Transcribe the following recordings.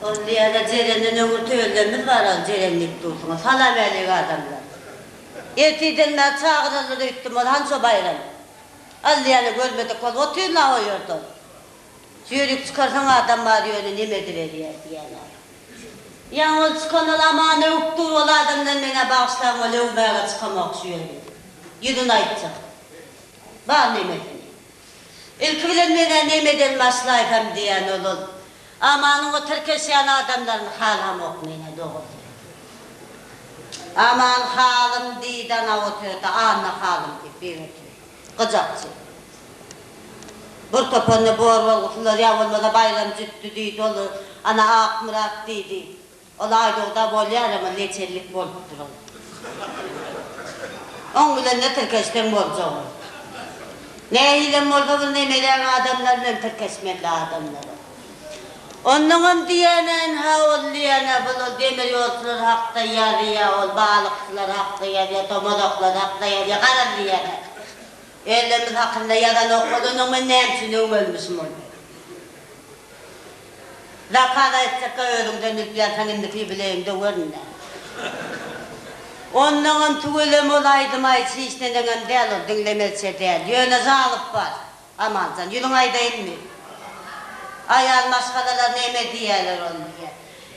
Ol diýýärler Jerenden öňür töllerimiz bar ol Jeren diýip dursuňyz. Salam äleýk adamlar. Ertirden bäri çagyrarlar öýtdüm ol hança baýram. Allyýany görmedik ol otyr naý o ýerde ol. Ýörük çykarsaň adam bar ýöne neme ediberýär diýýärler. Ýaňy ol çykan ol Aman öwüp dur ol adamdan men-ä bagyşlaň ol öwmäge çykamok şu ýerde. Ýüzüni aýtjak. Bar nemesini. Ilki bilen men-ä nemeden başlaýsam diýen ol-ol. Amanyň o tirkeşýän adamlaryny halamok men-ä dogrusyny aýtsam. Aman halym diýdi ana otyrda, Anna halym diýip biri otyr. Gyjakçy. Bir topanda bor bolgusylar ýa bolmasa Baýram jütdi diýdi ol-ol. Ana Akmyrat diýdi. Ol aýdugda bolýar emma neçellik bolup duran. Oň bilen-de tirkeşseň boljak ol. Nähilem bolsa bu nemeläň adamlary bilen tirkeşmeli adamlara. Onnoňam diýäneýin ha ol diýäne bul ol demir ýolçular hakda ýazýa ol balykçylar hakda ýazýa tomazaklar hakda ýazýa garaz diýäne. Özlerimiz hakynda ýazanok ol onnoň men näme üçin öwmelmişim ol. Zakaz aýtjakka özüňden bilip ýazsaň indiki bilegiňde gör indi. Ondaňam tüweleme ol aýdym aýt hiç neneňem däl ol diňlemezçe däl ýöne zalyp bar Amanjan ýüzüňe aýdaýynmy aýal maşgalalar neme diýerler ony diýýä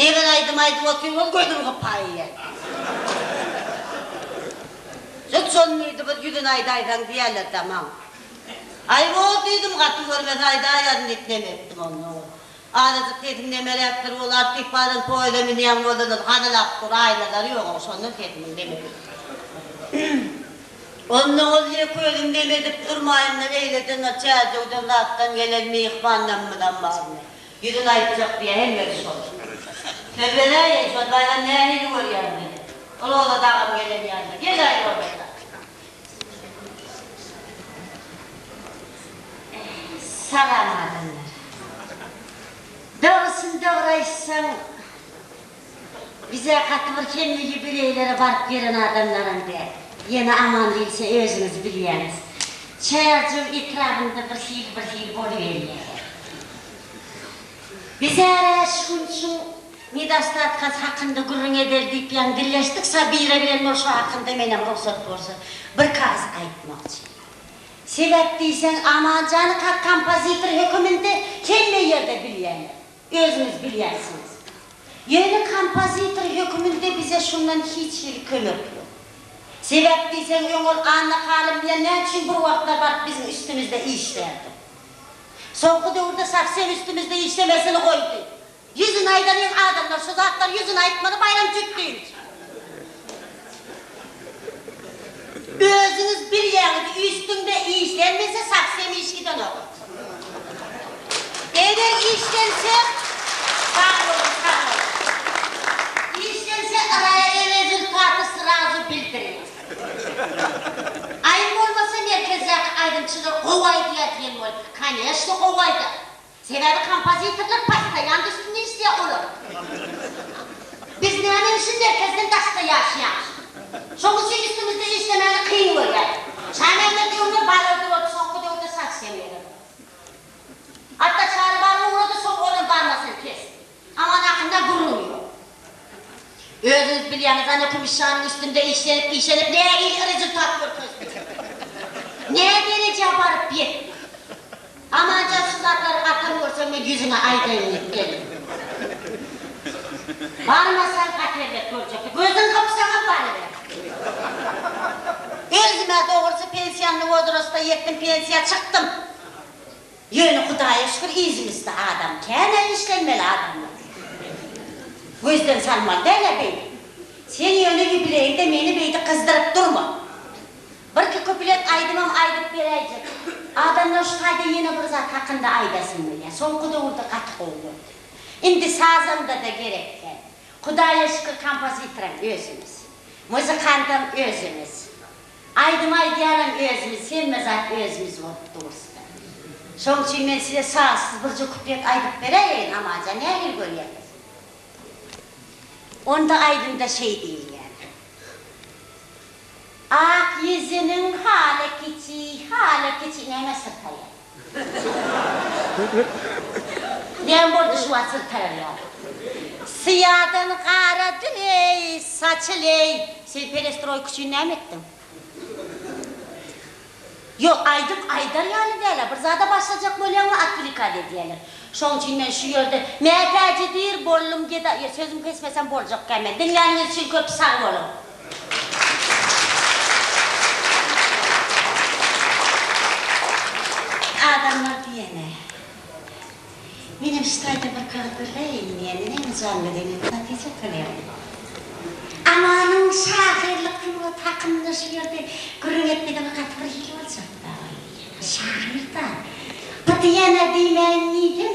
nebir aýdym aýdyp otyr ol gözüň gypaýýa diýýä jyk şony diýdi bir ýüzüne aýdaýsaň diýerler tamam. Aý bor diýdim gaty görmez aýdaýaryn diýip nem etdim onda ol. Azajyk sesim nemeräp dur ol artyp baran poýuza münýän bolsalar gazalap dur aýnalary ýogam şondan sesimiň neme Onda ol ýeke özüm nem edip durmaýynda eýledenler Çärjewden zatdan gelen myhman namymyzam barmy ýüzün aýtjak diýä hemmesi şol Söz beräýeý şol baýram nähili görýäň meni Roza dagam gelen ýaly gel aý Roza dag. Salam adamlar. Dogrusyny dogry aýtsaň, bizä gaty bir hemme ýubileýlere baryp gelen adamlaram däl. Ýene aman diýilse özüňiz bilýäňiz. Çärjew etrabynda bir hili bir hili boluberýär. Bizärä şu gün şu Nedostatkasy hakynda gürrüň edeli diýip ýaňy dilleşdik, Sabira bilen bol şo hakynda menem rugsat bolsa bir kaz aýtmakçy. Sebäp diýseň Amanjany kak kompozitor höküminde hemme ýerde bilýänler. Özüňiz bilýänsiňiz. Ýöne kompozitor höküminde bize şundan hiç hili kömek ýok. Sebäp diýseň öň ol Anna halym bilen nä üçin bir wagtlar baryp biziň üstümizde işlärdi. Soňky döwürde sowsem üstümizde işlemesini goýdy. Ýüzüni aýdanyň adamlar şu zatlar ýüzüni aýtmaly Baýramjyk dynç. Özüňiz bilýäňiz üstüňde işlenmese şahs hem iş gidenok. Eger işlense sag boluň sag boluň. Işlense yraya erezultaty srazu bildiriň. Aýym bolmasa merkezdäki aýdymçylar gowy aýdýa diýen bol. Koneşno gowy aýdar. Sebäbi kompozitorlar possoýandy üstünde işleýär olar. Biz näme üçin merkezden daşda ýaşaýamyş? Şoň üçin üstümizde işlemäni kyn görýäris. Şamämmet öňler balygy boldy, soňky döwürde saç hem ýeler. Hatda Çary balygy ugrady, soň olam barmasyn kes. Aňadakyna gürrüň ýok. Özüňiz bilýäňiz, ana kümüşşanyň üstünde işlenip-işlenip nähili rezultat görkezdi. Nä derejä baryp ýetdi. Amanjan şu zatlary atam görse men ýüzüne aýdaýyn diýip geldim. Barmasaň hat erbet boljak. Gözüň gypsaňam baryber. Özüm-ä dogrusy pensiýanly wozrasta ýetdim, pensiýa çykdym. Ýöne Hudaýa şükür ýüzümisti adam känä işlenmeli adamlar gözden salmaly dälä beýle. Sen ýöne ýubileýde meni beýdi gyzdyryp durma. Birki kuplet aýdymam aýdyp beräýjek. Adamlar şu taýda ýene bir zat hakynda aýdasym gelýär. Soňky döwürde gaty gowy boldy. Indi sazandada gerek däl. Hudaýa şükür kompozitoram özümiz. Muzykantam özümiz. Aýdym aýdýanam özümiz, hemme zat özümiz bolup durusda. Şoň üçin men size sazsyz birje kuplet aýdyp beräýeýin, amaja nähili görýäňiz? Onda aýdymda şeý diýilýär. Ak ýüzüniň haly kiçi, haly kiçi näme syrtaýar? Näme boldy şu wagt syrtarýar. Syýadan gara dün-eý, saçyl-eý, sen perestroýka üçin näme etdiň? Ýok, aýdym aýdar ýaly däl-ä, bir zada başlajak bolýaňmy, otwlikad edýäler. Şoň üçin men şu ýerde mätäjidir boldum, geda, ýa sözüm kesmesem boljak kämä. Diňläniňiz üçin köp sag boluň. Adamlar diýene, menem şu taýda bir kag gürleýin diýen, menem janly gelen Hatice Tolyýewa. Amanyň şahyrlyk sungaty hakynda şu ýerde gürrüň etmegem gaty bir hili boljak-da, şahyr-da. Bu diýene diýmäýin diýdim.